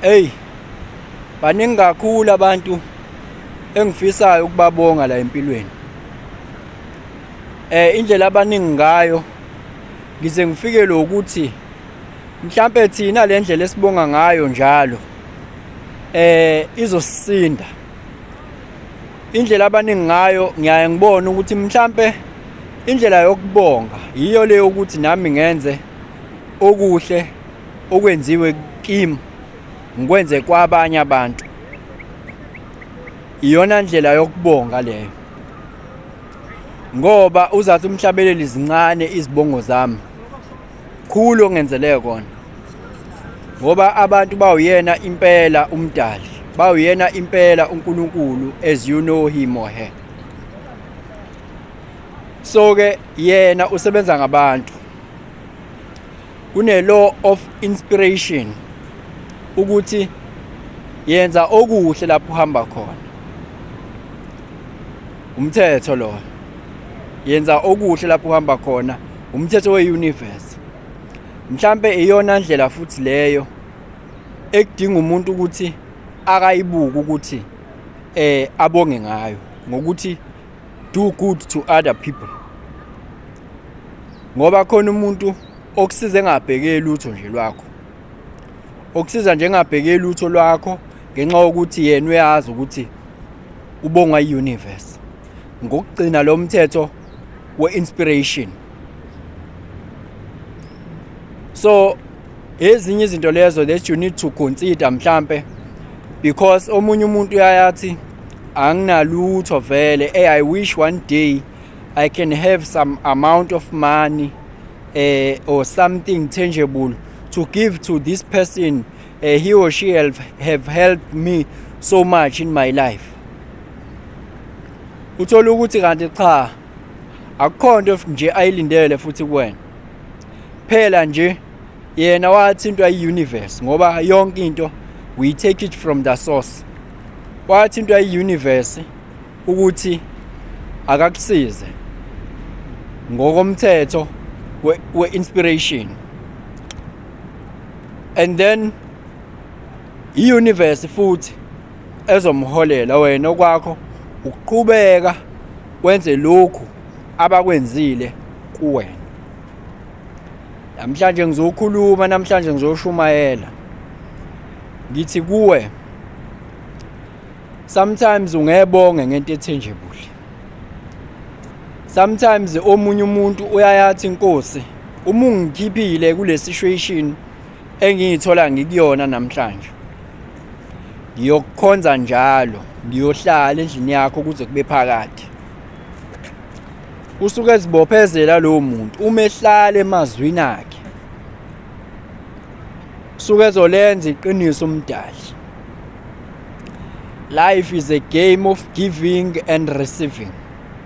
Hey baningi kakhulu abantu engifisayo ukubabonga la empilweni eh indlela abaningi ngayo ngize ngifike lokuthi mhlambe thina le ndlela esibonga ngayo njalo eh izosisinda indlela abaningi ngayo ngiyaye ngibone ukuthi mhlambe indlela yokubonga yiyo leyo ukuthi nami ngenze okuhle okwenziwe kim ngikwenze kwabanye abantu iyona ndlela yokubonga leyo ngoba uzathi umhlabeleli zincane izibongo zami khulu ongenzeleke kona ngoba abantu bawuyena impela umdali bawuyena impela uNkulunkulu as you know him or her so ke yena usebenza ngabantu Kune-law of inspiration ukuthi yenza okuhle lapho uhamba khona. Umthetho lo. Yenza okuhle lapho uhamba khona. Umthetho we-universe. Mhlampe iyona ndlela futhi leyo ekudinga umuntu ukuthi akayibuke ukuthi eh abonge ngayo ngokuthi do good to other people ngoba khona umuntu okusiza engabheke lutho nje lwakho okusiza nje engabheke lutho lwakho ngenxa yokuthi yena uyazi ukuthi ubongwa i-universe ngokugcina lo mthetho we-inspiration so ezinye izinto lezo that you need to consider mhlampe because omunye umuntu uyayathi anginalutho vele hey i wish one day i can have some amount of money eh or something tangible to give to this person uh, he or she have, have helped me so much in my life uthola ukuthi kanti cha akukho nto nje ayilindele futhi kuwena phela nje yena wathintwa i-universe ngoba yonke into we take it from the source wathintwa i-universe ukuthi akakusize ngokomthetho we-inspiration and then i-universe futhi ezomholela wena okwakho ukuqhubeka wenze lokhu abakwenzile kuwena namhlanje ngizokhuluma namhlanje ngizoshumayela ngithi kuwe sometimes ungebonge ngento ethenjebule sometimes omunye umuntu uyayathi inkosi uma ungikhiphile kule situation engiyithola ngikuyona namhlanje ngiyokukhonza njalo ngiyohlala endlini yakho kuze kube phakade usuke ezibophezela lowo muntu uma ehlala emazwini akhe usuke ezolenza iqiniso umdali life is a game of giving and receiving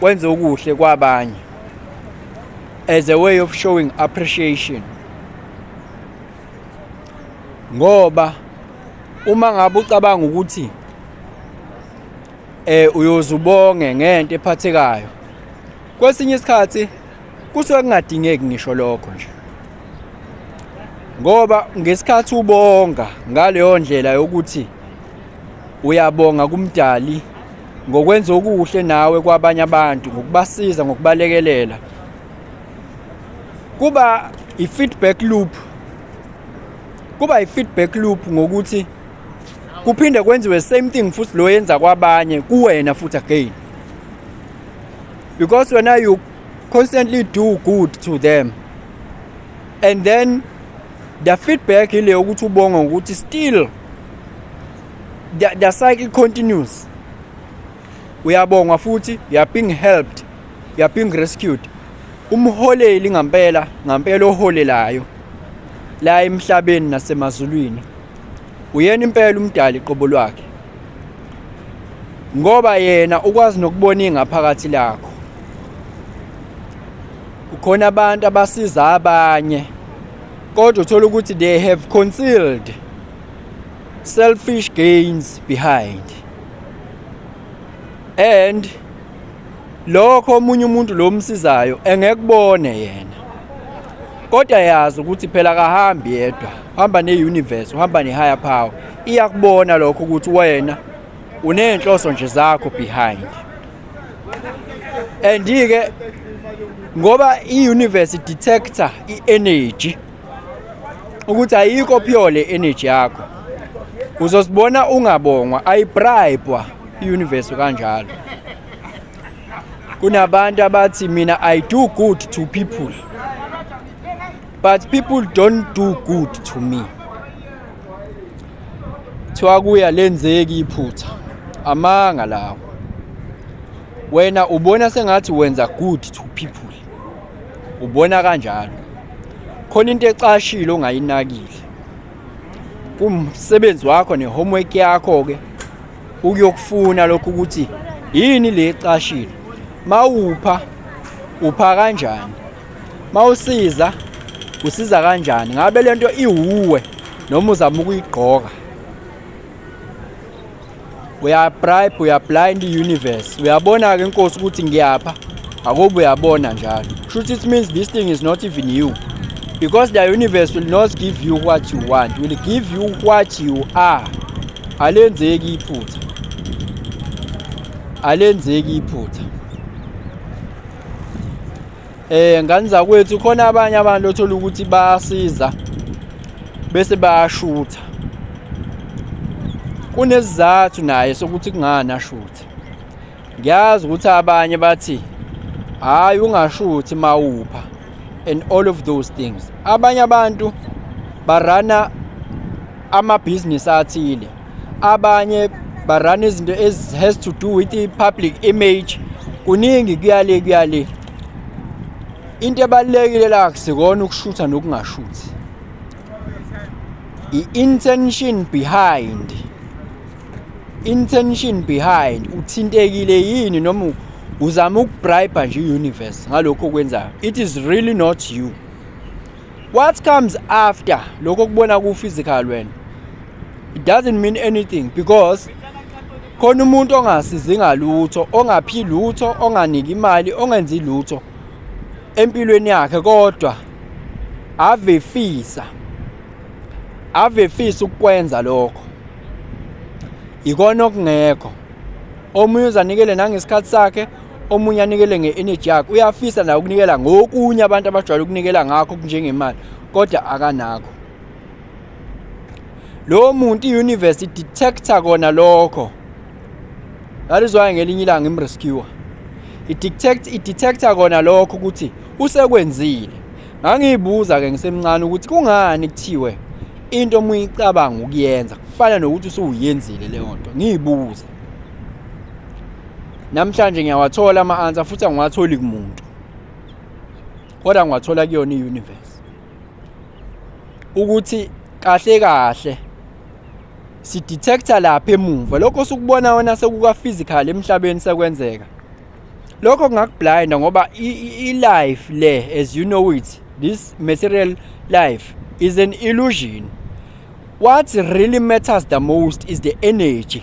wenze okuhle kwabanye as a way of showing appreciation ngoba uma ngabe ucabanga ukuthi eh uyozubonge ngento ephathekayo kwesinye isikhathi kusuke kungadingeki ngisho lokho nje ngoba ngesikhathi ubonga ngaleyo ndlela yokuthi uyabonga kumdali ngokwenza okuhle nawe kwabanye abantu ngokubasiza ngokubalekelela kuba i-feedback loop kuba i-feedback loop ngokuthi kuphinde kwenziwe same thing futhi lo yenza kwabanye kuwena futhi again because wena you constantly do good to them and then the feedback ile ukuthi ubonga ukuthi still the, the cycle continues uyabongwa futhi you are being helped you are being rescued umholeli ngampela ngampela oholelayo la emhlabeni nasemazulwini uyena impela umdali qobo lwakhe ngoba yena ukwazi nokubona ingaphakathi lakho kukhona abantu abasiza abanye kodwa uthola ukuthi they have concealed selfish gains behind and lokho omunye umuntu lo msizayo engekubone yena kodwa yazi ukuthi phela kahambi yedwa hamba ne-universe uhamba ne-higher power iyakubona lokho ukuthi wena uney'nhloso nje zakho behind and-ke ngoba i-universe detector i-energy ukuthi ayikho phiyole energy yakho uzosibona ungabongwa ayibribwa iuniverse kanjalo kunabantu abathi mina i do good to people but people don't do good to me kuthiwa kuya lenzeki iphutha amanga lawo wena ubona sengathi wenza good to people ubona kanjalo khona into ecashile ongayinakile kumsebenzi wakho ne-homework yakho ke ukuyokufuna lokhu ukuthi yini le ecashile mawupha upha kanjani mawusiza usiza kanjani ngabe lento iwuwe noma uzama ukuyigqoka uyabribe uyablind i-universe uyabona-ke inkosi ukuthi ngiyapha akobe uyabona njalo shuthi it means this thing is not even you because the universe will not give you what you want will give you what you are alenzeki iphutha alenzeki iphutha Eh ngani zakwethu khona abanye abantu othola ukuthi basiza bese bayashutha. Kunesizathu naye sokuthi kungani ashuthe. Ngiyazi ukuthi abanye bathi hayi ungashuthi mawupha and all of those things. Abanye abantu barana amabhizinisi athile abanye barana izinto ezi has to do with i-public image kuningi kuyale kuyale into ebalulekile la kusikona ukushutha nokungashuthi i-intention behind intention behind uthintekile yini noma uzama ukubribe nje i-universe ngalokho okwenzayo it is really not you what comes after lokho kubona ku physical wena it doesn't mean anything because khona umuntu ongasizi ngalutho ongaphi lutho onganiki imali ongenzi lutho empilweni yakhe kodwa ave fisa ave fisa ukwenza lokho ikona okungekho omunye uzanikele nangesikhathi sakhe omunye anikele nge-energy yakhe uyafisa naye ukunikela ngokunye abantu abajwayele ukunikela ngakho kunjengemali kodwa akanakho lowo muntu i-universe idetector kona lokho that is why ngelinye ilanga imrescuer idetect idetector kona lokho ukuthi usekwenzile ngangiyibuza-ke ngisemncane ukuthi kungani kuthiwe into uma uyicabanga ukuyenza kufana nokuthi usuwuyenzile leyo nto ngiyibuza namhlanje ngiyawathola ama-answer futhi angiwatholi kumuntu kodwa ngiwathola kuyona i-universe ukuthi kahle kahle sidetector lapha emuva lokho sukubona wena sekuka-physical emhlabeni sekwenzeka lokho kungakublinda ngoba i-life le as you know it this material life is an illusion what really matters the most is the energy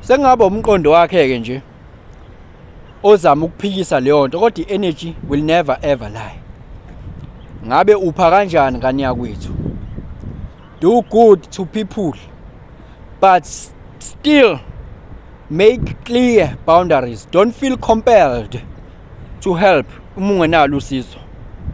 Sekungaba umqondo wakhe ke nje ozama ukuphikisa leyo nto kodwa i-energy will never ever lie ngabe upha kanjani ngane yakwethu do good to people but still make clear boundaries don't feel compelled to help uma ungenalo usizo